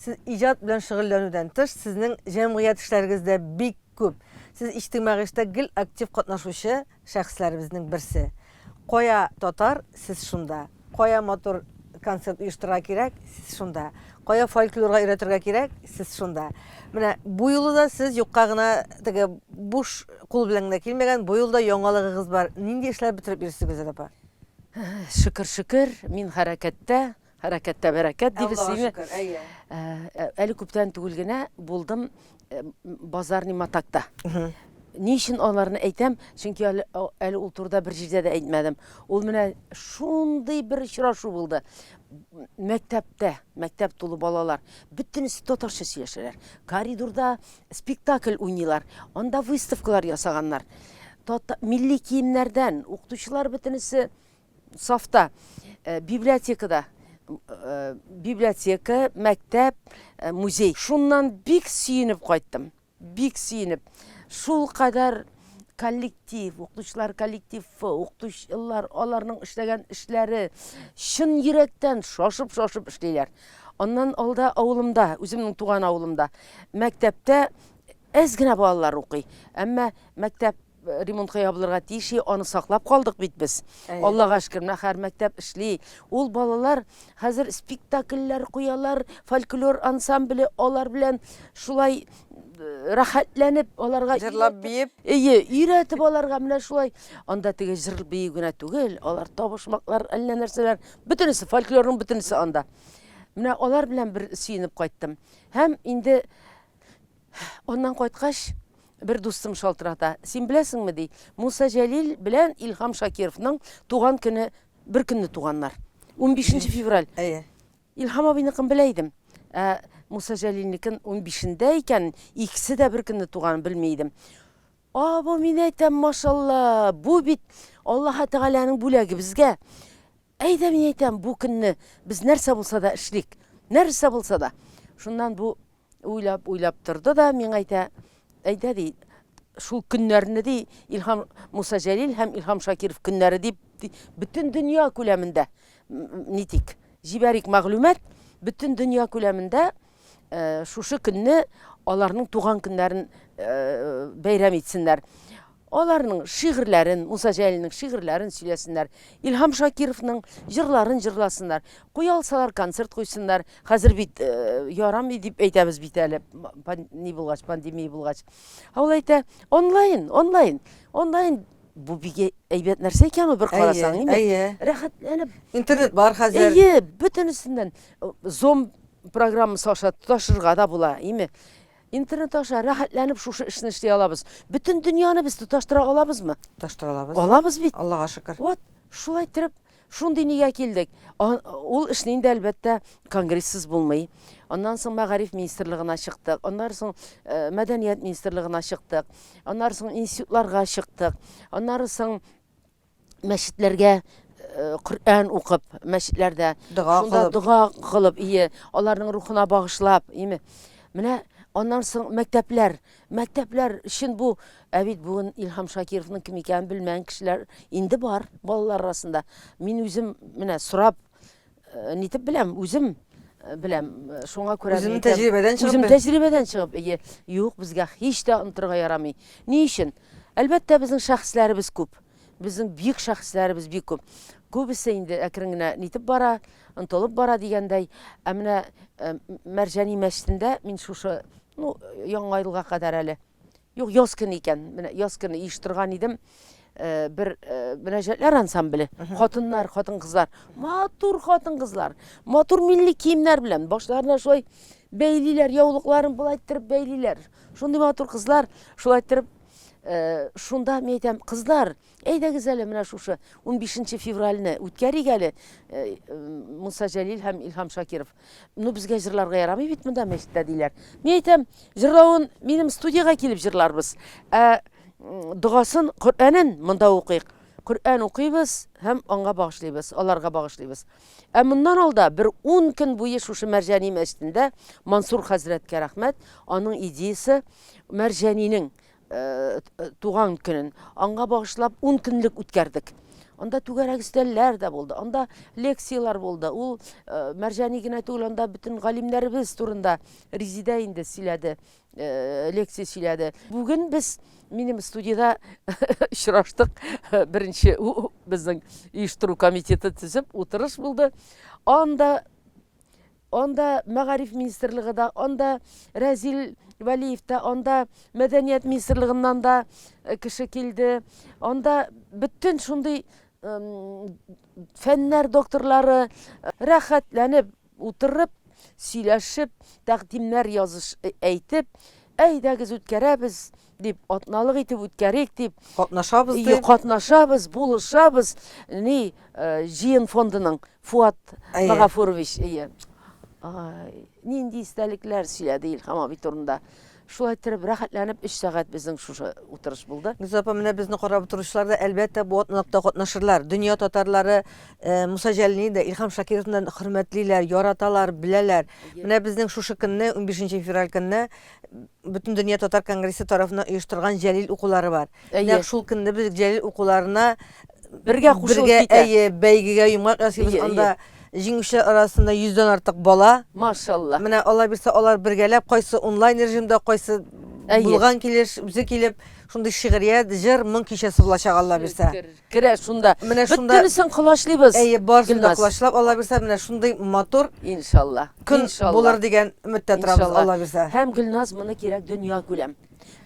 Сез иҗат белән шөгыльләнүдән тыш, сезнең җәмгыять эшләрегез дә бик күп. Сез иҗтимагый эштә гел актив катнашучы шәхесләребезнең берсе. Кая татар, сез шунда. Кая матур концерт оештырырга кирәк, сез шунда. Кая фольклорга өйрәтергә кирәк, сез шунда. Менә бу юлы да сез юкка гына теге буш кул белән генә килмәгән, бу юлы да яңалыгыгыз бар. Нинди эшләр бетереп йөрисез, Гөлзат апа? Шөкер, шөкер, мин хәрәкәттә. Хәрәкәттә бәрәкәт дибез сине. Әле күптән түгел генә булдым базарный матакта. Ни өчен аларны әйтәм? Чөнки әле, әле ул турыда бер җирдә дә әйтмәдем. Ул менә шундый бер очрашу булды. Мәктәптә, мәктәп тулы балалар, бөтенесе татарча сөйләшәләр. Коридорда спектакль уйныйлар, анда выставкалар ясаганнар. Тата, милли киемнәрдән укытучылар бөтенесе сафта, э, библиотекада, э, библиотека, мәктәп, э, музей. Шуннан бик сөенеп кайттым. Бик сөенеп. Шул кадәр коллектив, укытучылар коллективы, укытучылар, аларның эшләгән эшләре чын йөрәктән шашып-шашып эшлиләр. Аннан алда авылымда, үземнең туган авылымда, мәктәптә әз генә балалар укый. Әмма мәктәп ремонтка ябылырга тиеш аны саклап калдык бит без аллага шөкер менә һәр мәктәп эшли ул балалар хәзер спектакльләр куялар фольклор ансамбле алар белән шулай э, рәхәтләнеп аларга җырлап биеп әйе өйрәтеп аларга менә шулай анда теге җыр бию генә түгел алар табышмаклар әллә нәрсәләр бөтенесе фольклорның бөтенесе анда менә алар белән бер сөенеп кайттым һәм инде Аннан кайткач, бер дустым шалтырата. Син беләсеңме, ди, Муса Җәлил белән Илһам Шакировның туган көне беркөнне туганнар. Унбишенче февраль. Әйе. Илһам абыйныкын белә идем. Ә Муса Җәлилнекен унбишендә икәнен, икесе дә беркөнне туганын белми идем. А, бу мин әйтәм, машалла, бу бит Аллаһы Тәгаләнең бүләге безгә. Әйдә мин әйтәм, бу көнне без нәрсә булса да эшлик. Нәрсә булса да. Шуннан бу Уйлап, уйлап торды да миңа әйтә, әйдә ди, шул көннәрне ди, Илһам Муса Җәлил һәм Илһам Шакиров көннәре дип, бөтен дөнья күләмендә нитик, җибәрик мәгълүмат, бөтен дөнья күләмендә э, шушы көнне аларның туган көннәрен э, бәйрәм итсеннәр. Аларның шигырьләрен, Муса Җәлилнең шигырьләрен сөйләсеннәр, Илһам Шакировның җырларын җырласыннар, куя алсалар, концерт куйсыннар. Хәзер бит ярамый дип әйтәбез бит әле, ни булгач, пандемия булгач. Ә ул әйтә, онлайн, онлайн, онлайн бу бик әйбәт нәрсә икән ул бер карасаң, әйе, әйе. Рәхәтләнеп. Интернет бар хәзер. Әйе, бөтенесеннән Zoom программасы аша тоташырга да була, әйеме? Интернет аша рәхәтләнеп шушы эшне эшли алабыз. Бөтен дөньяны без тоташтыра алабызмы? Тоташтыра алабыз. Алабыз бит. Аллага шөкер. Вот, шулай иттереп, шундый нигә килдек. Ул эшне инде, әлбәттә, конгрессыз булмый. Аннан соң Мәгариф министрлыгына чыктык, аннары соң Мәдәният министрлыгына чыктык, аннары соң институтларга чыктык, аннары соң мәчетләргә э, Коръән укып, мәчетләрдә Дога шунда кылып. дога кылып, ие, аларның рухына багышлап, име. Менә аннан соң мәктәпләр, мәктәпләр өчен бу ә бит бүген Илһам Шакировның кем икәнен белмәгән кешеләр инде бар балалар арасында. Мин үзем менә сорап Э, нитеп беләм, үзем э, беләм. Э, шуңа күрә үзем тәҗрибәдән чыгып. Үзем тәҗрибәдән чыгып, ие, юк, безгә һич тә онтырга ярамый. Ни өчен? Әлбәттә, безнең шәхесләребез күп. Безнең бик шәхесләребез бик күп. Күбесе инде әкрен генә нитеп бара, онтылып бара дигәндәй. Ә менә Мәрҗани мәчетендә мин шушы, ну, яңа елга кадәр әле Юк, яз көне икән. Менә яз көне оештырган идем. Э, бер э, мөнәҗәтләр ансамбле. Хатыннар, хатын-кызлар. Матур хатын-кызлар. Матур милли киемнәр белән башларына шулай бәйлиләр, яулыкларын болай иттереп бәйлиләр. Шундый матур кызлар, шулай иттереп э, шунда мин әйтәм, кызлар, Әйдәгез әле менә шушы унбишенче февральне үткәрик әле, э, Муса Җәлил һәм Илһам Шакиров. Ну, безгә җырларга ярамый бит монда мәчеттә диләр. Мин әйтәм, җырлавын минем студиягә килеп җырларбыз. Ә догасын, Коръәнен монда укыйк. Коръән укыйбыз һәм аңа багышлыйбыз, аларга багышлыйбыз. Ә моннан алда бер 10 көн буе шушы Мәрҗани мәчетендә Мансур хәзрәткә рәхмәт, аның идеясе Мәрҗанинең туган көнен аңга багышлап ун көнлек үткәрдек анда түгәрәк өстәлләр дә булды анда лекцияләр булды ул э, мәрҗани генә түгел анда бөтен галимнәребез турында резидә инде сөйләде э, лекция сөйләде бүген без минем студияда очраштык беренче безнең оештыру комитеты төзеп утырыш булды анда Анда Мәгариф министрлыгы да, анда Рәзил Вәлиев тә, анда Мәдәният министрлыгыннан да кеше килде. Анда бөтен шундый фәннәр докторлары рәхәтләнеп утырып, сөйләшеп, тәкъдимнәр языш әйтеп, әйдәгез үткәрәбез, дип, атналык итеп үткәрик дип, катнашабыз дип, катнашабыз, булышабыз, ни, җыен фондының Фуат Магафурович, әйе. Нинди истәлекләр сөйләде Илһам абый турында. Шулай иттереп, рәхәтләнеп 3 сәгать безнең шушы утырыш булды. Гөлзия апа, менә безне карап утыручылар да, әлбәттә, бу атналыкта катнашырлар. Дөнья татарлары э, Муса Җәлилне дә Илһам Шакировны хөрмәтлиләр, яраталар, беләләр. Менә безнең шушы көнне, 15 февраль көнне Бөтендөнья татар конгрессы тарафыннан оештырган Җәлил укулары бар. Нәкъ шул көнне без Җәлил укуларына бергә кушылып китә. Әйе, бәйгегә йомгак ясыйбыз анда. Җиңүчеләр арасында 100 дән артык бала. Машалла. Менә Алла бирсә, алар бергәләп кайсы онлайн режимда, кайсы булган килеш, үзе килеп, шундый шигърият, җыр, моң кичәсе булачак Алла бирсә. Керә шунда. Менә шунда. Бөтенесен колачлыйбыз. Әйе, барысын да колачлап, Алла бирсә, менә шундый матур. Иншалла. Көн булыр дигән өметтә торабыз, Алла бирсә. Һәм, Гөлназ, моны кирәк дөньякүләм.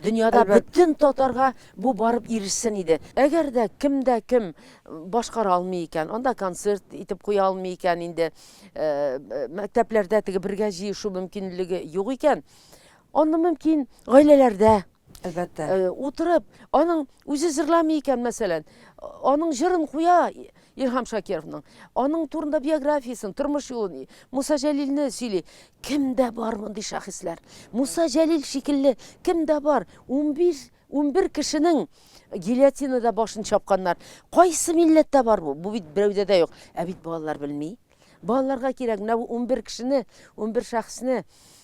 Дөньяда бөтен татарга бу барып ирешсен иде. Әгәр дә кем дә кем башкара алмый икән, анда концерт итеп куя алмый икән инде, мәктәпләрдә теге бергә җыешу мөмкинлеге юк икән, аны мөмкин гаиләләрдә, Әлбәттә. Э, утырып, аның үзе җырламый икән, мәсәлән, аның җырын куя Илһам Шакировның. Аның турында биографиясен, тормыш юлын, Муса Җәлилне сөйли. Кемдә бар мондый шәхесләр? Муса Җәлил шикелле кемдә бар? 15 11 кешенең гильотинада башын чапканнар. Кайсы милләттә бар бу? Бу бит берәүдә дә юк. Ә бит балалар белми. Балаларга кирәк, менә бу унбер кешене, унбер шәхесне,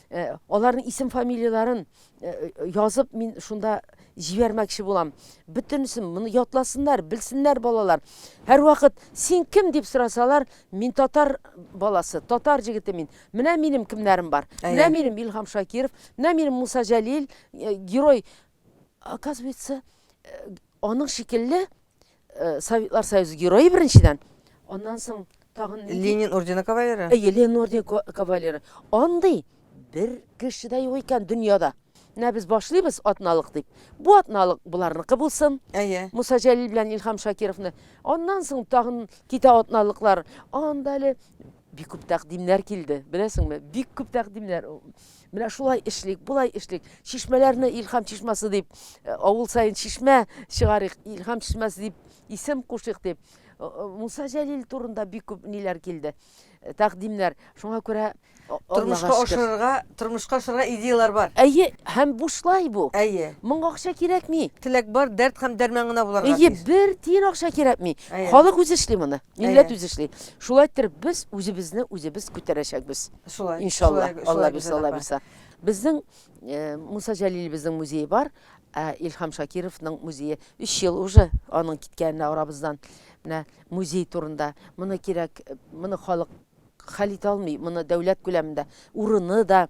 э, аларның исем-фамилияләрен э, язып, мин шунда җибәрмәкче булам. Бөтенесен моны ятласыннар, белсеннәр балалар. Һәрвакыт син кем дип сорасалар, мин татар баласы, татар җегете мин. Менә минем кемнәрем бар. Менә минем Илһам Шакиров, менә минем Муса Җәлил, э, герой. Оказывается, аның шикелле Э, Советлар Союзы герое беренчедән, аннан соң тагын Ленин ордены кавалеры. Әйе, Ленин ордены кавалеры. Андый бер кеше дә юк икән дөньяда. Менә без башлыйбыз атналык дип. Бу атналык буларныкы булсын. Әйе. Муса Җәлил белән Илһам Шакировны. Аннан соң тагын китә атналыклар. Анда әле бик күп тәкъдимнәр килде. Беләсеңме? Бик күп тәкъдимнәр. Менә шулай эшлик, болай эшлик. Чишмәләрне Илһам чишмасы дип, э, авыл саен чишмә чыгарыйк, Илһам чишмәсе дип исем кушыйк дип. Э, э, Муса Җәлил турында бик күп ниләр килде. э, Тәкъдимнәр. Шуңа күрә а- Аллага Тормышка шөкер. ашырырга, тормышка ашырырга идеялар бар. Әйе, һәм бушлай бу. Әйе. Моңа акча кирәкми. Теләк бар, дәрт һәм дәрман гына буларга Әйе, тиеш. бер тиен акча кирәкми. Әйе. Халык үзе эшли моны. Милләт үзе эшли. Шулай иттереп без үзебезне үзебез күтәрәчәкбез. Шулай. Иншалла, Алла бирсә, Алла бирсә. Безнең э, Муса Җәлилебезнең музее бар, ә Илһам Шакировның музее 3 ел уже аның киткәненә арабыздан. Менә музей турында. Моны кирәк, моны халык Хәл итә алмый моны дәүләт күләмендә. Урыны да,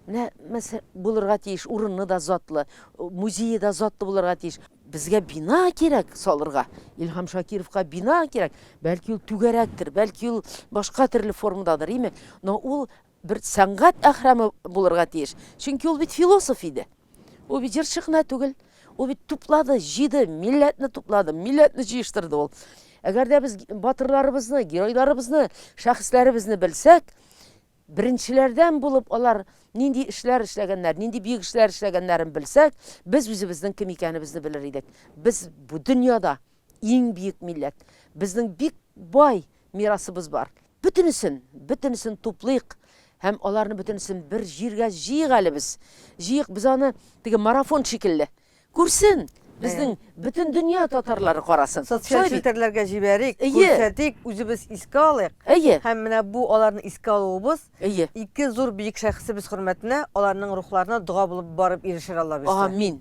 менә мәсә, булырга тиеш, урыны да затлы, музее да затлы булырга тиеш. Безгә бина кирәк салырга, Илһам Шакировка бина кирәк, бәлки ул түгәрәктер, бәлки ул башка төрле формададыр, име, но ул бер сәнгать әһрәме булырга тиеш, чөнки ул бит философ иде. Ул бит җырчы гына түгел, ул бит туплады, җыйды, милләтне туплады, милләтне җыештырды ул. Әгәр дә без батырларыбызны, геройларыбызны, шәхесләребезне белсәк, беренчеләрдән булып алар нинди эшләр эшләгәннәр, нинди бөек эшләр эшләгәннәрен белсәк, без үзебезнең кем икәнебезне белер идек. Без бу дөньяда иң бөек милләт. Безнең бик бай мирасыбыз бар. Бөтенесен, бөтенесен туплыйк һәм аларны бөтенесен бер җиргә җыйыйк әле без. Җыйыйк без аны, теге марафон шикелле. Күрсен, безнең бөтен дөнья татарлары карасын. Социаль челтәрләргә җибәрик, күрсәтик, үзебез искә алыйк. Әйе. Һәм менә бу аларны искә алуыбыз, ике зур биек шәхесебез хөрмәтенә, аларның рухларына дога булып барып ирешер Аллабирса. Амин.